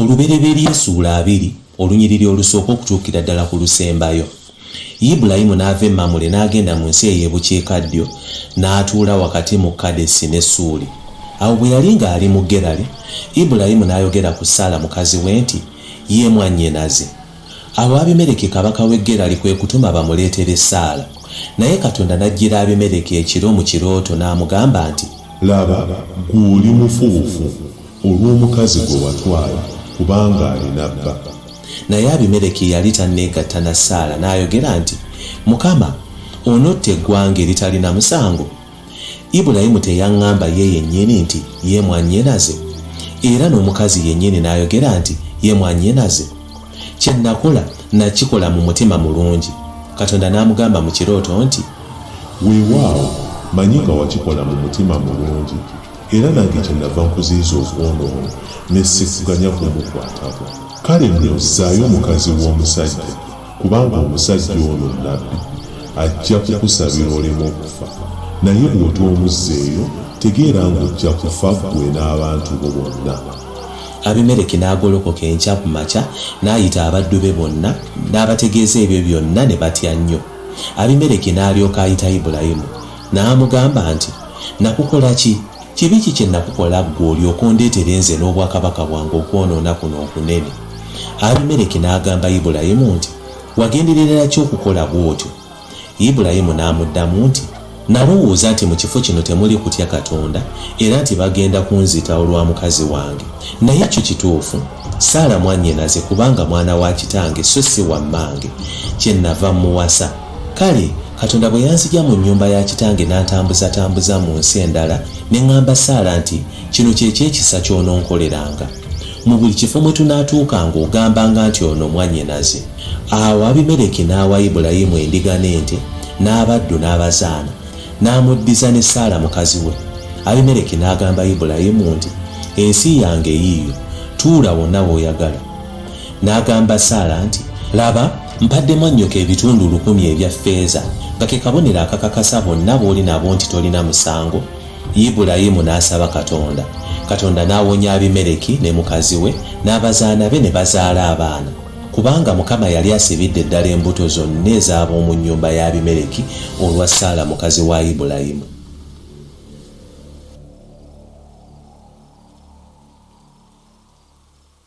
olubereberye esuula abiri olunyiriri olusooka okutuukira ddala ku lusembayo ibulayimu n'ava emamule n'agenda mu nsi ey'ebukiikaddyo n'atuula wakati mu kadesi ne suuli awo bwe yali ng'ali mu gerali ibulayimu n'ayogera ku saala mukazi we nti ye mwannyinaze Awo Abimereki kabaka w'e Gerali kwe kutuma bamuleetere essaala. Naye Katonda n'ajjira Abimereki ekiro mu kirooto n'amugamba nti. Laba, ggwe oli mufubufu olw'omukazi gwe watwala, kubanga alina bba. Naye Abimereki yali tanneegatta na Saala, n'ayogera nti, Mukama, onotta eggwanga eritalina musango? Ibulayimu teyaŋŋamba ye yennyini nti, Ye mwannyinaze? Era n'omukazi yennyini n'ayogera nti, Ye mwannyinaze? Kye nnakola, nnakikola mu mutima mulungi. Katonda n'amugamba mu kirooto nti. Weewaawo, mmanyi nga wakikola mu mutima mulungi, era nange kyennava nkuziyiza okwonoona, ne sikuganya kumukwatako. Kale nno zzaayo mukazi w'omusajja. Kubanga omusajja ono Nnabbi, ajja kukusabira oleme okufa, naye bw'otoomuzzeeyo, tegeera nga ojja kufa ggwe n'abantu bo bonna. Abimereki n'agolokoka enkya ku makya, n'ayita abaddu be bonna, n'abategeeza ebyo byonna, ne batya nnyo. Abimereki n'alyoka ayita Ibulayimu, n'amugamba nti, Nakukola ki? Kibi ki kye nakukola ggwe olyoke ondeetere nze n'obwakabaka bwange okwonoona kuno okunene? Abimereki n'agamba Ibulayimu nti, Wagenderera ki okukola bw'otyo? Ibulayimu n'amuddamu nti, Nalowooza nti mu kifo kino temuli kutya Katonda era nti bagenda kunzita olwa mukazi wange. Naye kyo kituufu, Saala mwannyinaze kubanga mwana wa kitange so si wa mmange, kyennava mmuwasa. Kale. Katonda bwe yanzigya mu nnyumba ya kitange n'antambuzatambuza mu nsi endala, ne ŋŋamba Saala nti, Kino kye ky'ekisa ky'ononkoleranga. Mu buli kifo mwe tunaatuukanga ogambanga nti ono mwannyinaze. Awo Abimereki n'awa Ibulayimu endiga n'ente, n'abaddu n'abazaana, n'amuddiza ne Saala mukazi we. Abimereki n'agamba Ibulayimu nti, Ensi yange yiiyo, tuula wonna w'oyagala. N'agamba Saala nti, Laba, mpadde mwannyoko ebitundu lukumi ebya ffeeza, nga ke kabonero akakakasa bonna bw'oli nabo nti tolina musango. Ibulayimu n'asaba Katonda. Katonda n'awonya Abimereki ne mukazi we n'abazaana be ne bazaala abaana. Kubanga Mukama yali asibidde ddala embuto zonna ez'ab'omu nnyumba ya Abimereki olwa Saala mukazi wa Ibulayimu.